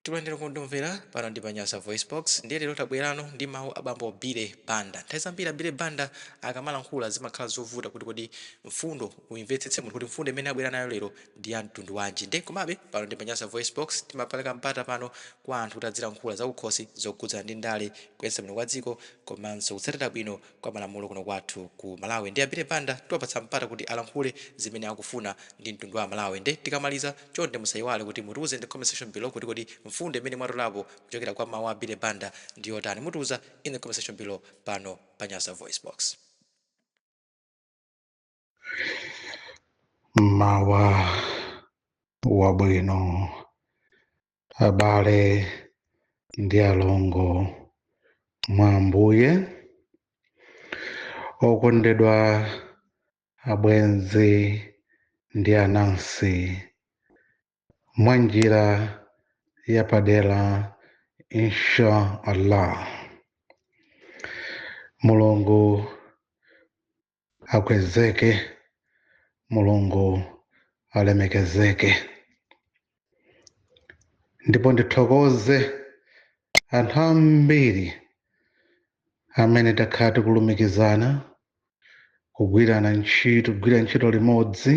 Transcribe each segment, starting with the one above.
Takulandirani okondeka omvera pano ndi pa Nyasa VoiceBox ndiye lero tabwerano ndi mawu a bambo Billy Banda. Nthawi zambiri a Billy Banda akamalankhula zimakhala zovuta kuti kodi mfundo uyimvetsetse munthu kuti mfundo imene abwera nayo lero ndi ya mtundu wanji. Ndiye komabe pano ndi pa Nyasa VoiceBox timapeleka mpata pano kwa anthu kuti adzilankhula zakukhosi zokhudzana ndi ndale, kuyendetsa bwino kwa dziko komanso kutsatira bwino kwa malamulo kuno kwathu ku Malawi nde a Billy Banda tiwapatsa mpata kuti alankhule zimene akufuna ndi mtundu wa amalawi nde tikamaliza chonde musayiwale kuti mutiuze in the comment section below kuti kodi mfundo imene mwatolapo kuchokera kwa mawu a Billy Banda ndi yotani mutiuza in the comment section below pano pa Nyasa VoiceBox. mmawa wabwino abale ndi alongo mwa ambuye okondedwa abwenzi ndi anansi mwa njira yapadera insha allah mulungu akwezeke mulungu alemekezeke ndipo ndithokoze anthu ambiri amene takhala tikulumikizana kugwirana ntchito kugwira ntchito limodzi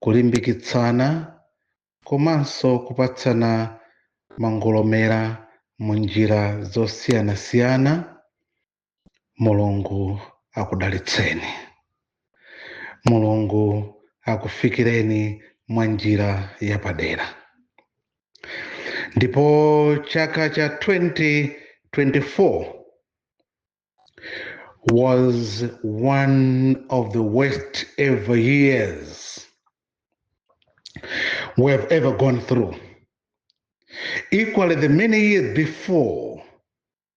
kulimbikitsana komanso kupatsana mangolomera mu njira zosiyanasiyana mulungu akudalitseni mulungu akufikireni mwa njira yapadera ndipo chaka cha 2024 was one of the worst ever years we have ever gone through. Equally, the many years before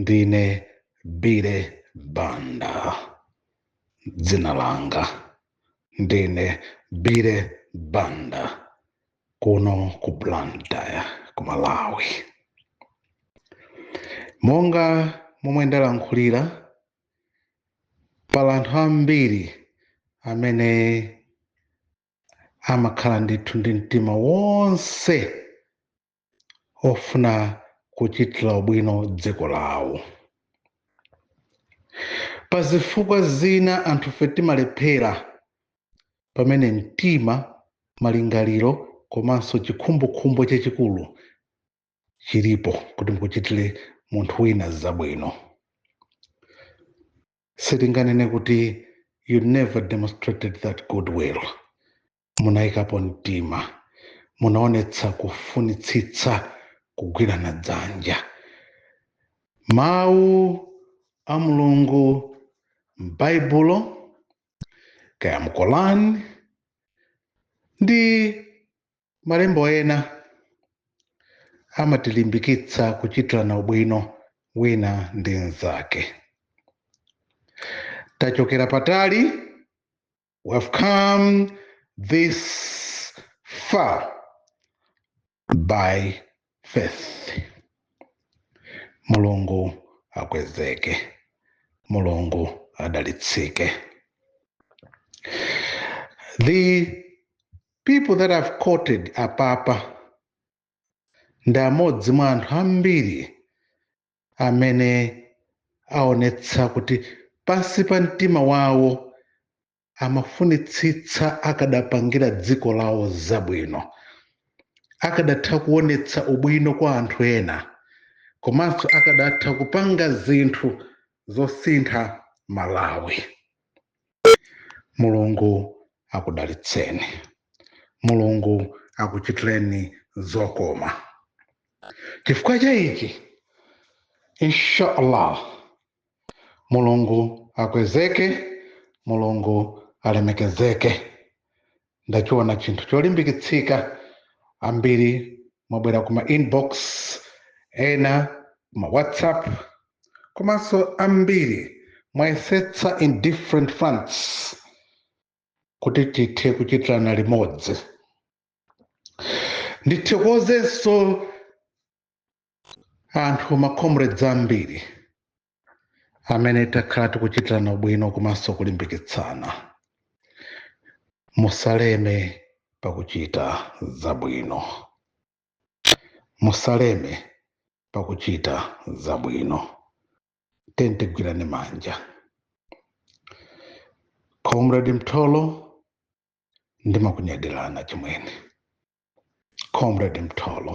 ndine Billy Banda dzina langa ndine Billy Banda kuno ku blantyre ku malawi monga momwe ndalankhulira pali anthu ambiri amene amakhala ndithu ndi mtima wonse ofuna kuchitira ubwino dziko lawo pa zifukwa zina anthufe timalephera pamene mtima malingaliro komanso chikhumbokhumbo chachikulu chilipo kuti umuchitire munthu wina zabwino sitinganene kuti you never demonstrated that goodwill munayikapo mtima munaonetsa kufunitsitsa kugwirana dzanja mawu a mulungu m'baibulo kaya m'Korani ndi malembo ena amatilimbikitsa kuchitirana ubwino wina ndi mnzake tachokera patali We have come this far by faith. Mulungu akwezeke. Mulungu adalitsike. The people that I've quoted apapa ndi amodzi mwa anthu ambiri amene aonetsa kuti pansi pa mtima wawo amafunitsitsa akadapangira dziko lawo zabwino akadatha kuonetsa ubwino kwa anthu ena komanso akadatha kupanga zinthu zosintha malawi mulungu akudalitseni mulungu akuchitireni zokoma chifukwa cha ichi inshallah mulungu akwezeke mulungu alemekezeke ndachiona chinthu cholimbikitsika ambiri mwabwera kuma inbox ena kuma whatsapp komanso ambiri mwayesetsa in different fronts kuti tithe kuchitirana limodzi ndithokozenso anthu macomrades ambiri amene takhala tikuchitirana ubwino komanso kulimbikitsana musaleme pakuchita zabwino musaleme pakuchita zabwino tiyeni tigwirane manja comrade mtolo ndimakunyadirana chimwene comrade mtolo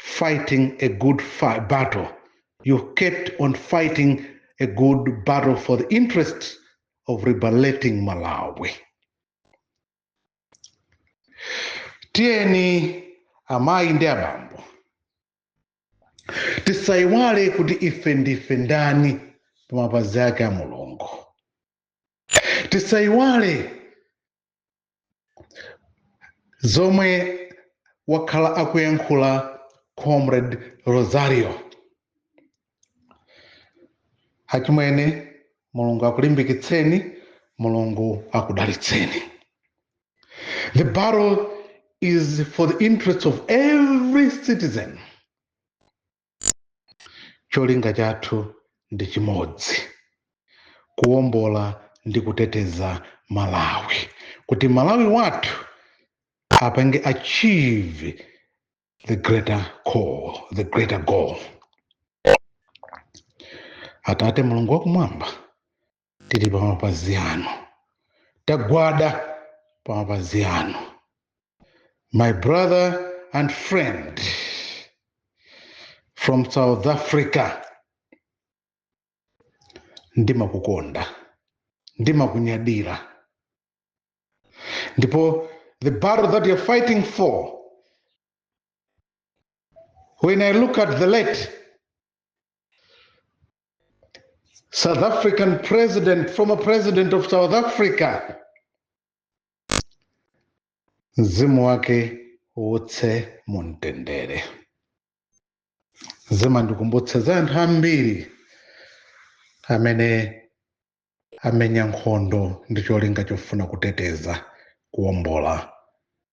fighting a good fi- battle. You kept on fighting a good battle for the interests of liberating Malawi. Tiyeni amayi ndi abambo tisayiwale kuti ife ndife ndani pamapazi ake a mulungu tisayiwale zomwe wakhala akuyankhula comrade rosario achimwene mulungu akulimbikitseni mulungu akudalitseni the battle is for the interests of every citizen cholinga chathu ndi chimodzi kuwombola ndi kuteteza malawi kuti malawi wathu apange achieve the greater call the greater goal atate mulungu wakumwamba tili pa mapazi anu tagwada pa mapazi anu my brother and friend from south africa ndimakukonda ndimakunyadira ndipo the battle that you're fighting for when i look at the late South African president, former president of South Africa, mzimu wake uwuse mumtendere. Zimandikumbutsa za anthu ambiri amene amenya nkhondo ndi cholinga chofuna kuteteza kuwombola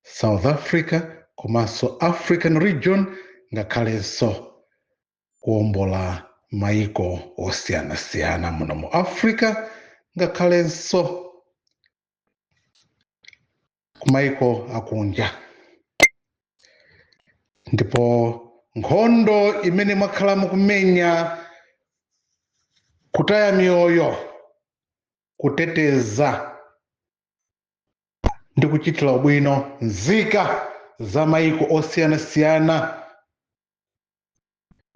South Africa komanso African region ngakhalenso kuwombola maiko osiyanasiyana muno mu africa ngakhalenso kumaiko akunja ndipo nkhondo imene mwakhala mukumenya kutaya miyoyo kuteteza ndi kuchitira ubwino nzika za maiko osiyanasiyana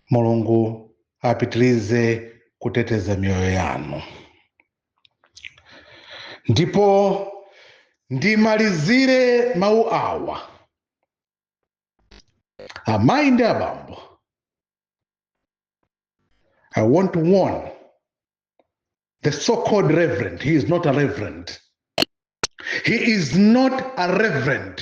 mulungu apitilize kuteteza miyoyo yanu ndipo ndimalizire mawu awa amayi ndi abambo i want to warn the so-called reverend he is not a reverend he is not a reverend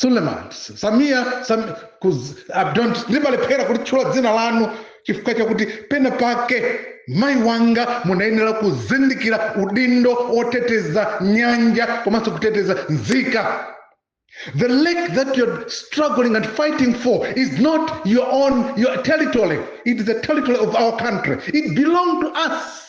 suluhu samia sam, kuz, i don't ndimalephera kulitchula dzina lanu chifukwa chakuti pena pake mayi wanga munayenera kuzindikira udindo woteteza nyanja komanso kuteteza nzika the lake that you're struggling and fighting for is not your own your territory it is the territory of our country it belong to us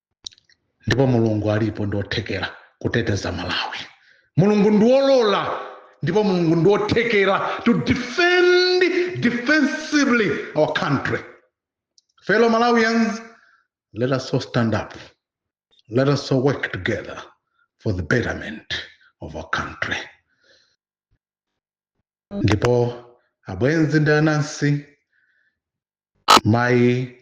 ndipo mulungu alipo ndi wothekera kuteteza malawi mulungu ndi wolola ndipo mulungu ndi wothekera to defend defensively our country fellow malawians let us all stand up let us all work together for the betterment of our country ndipo abwenzi ndi anansi mayi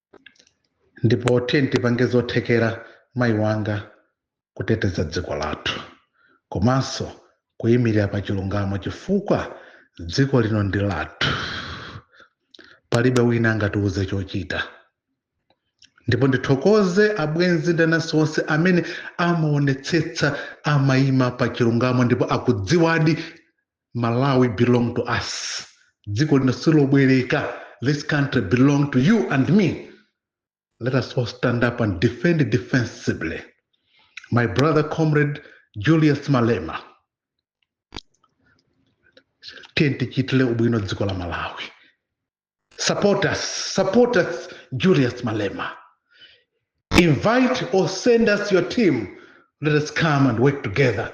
ndipo tiye tipange zothekera mayi wanga kuteteza dziko lathu komanso kuyimirira pa chilungamo chifukwa dziko lino ndi lathu palibe wina angatiuze chochita ndipo ndithokoze abwenzi ndi anansi onse amene amaonetsetsa amayima pa chilungamo ndipo akudziwadi malawi belong to us dziko lino silobwereka this country belong to you and me let us all stand up and defend it defensibly my brother comrade julius malema tiyeni tichitire ubwino dziko la malawi support us support us julius malema invite or send us your team let us come and work together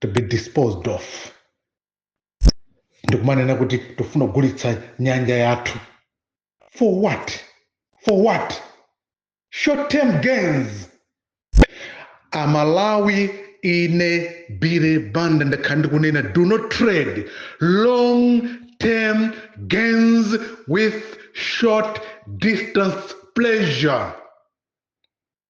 to be disposed of ndikumanena kuti tofuna kugulitsa nyanja yathu for what for what short term gains amalawi ine bire banda ndakhala ndikunena do not trade long term gains with short distance pleasure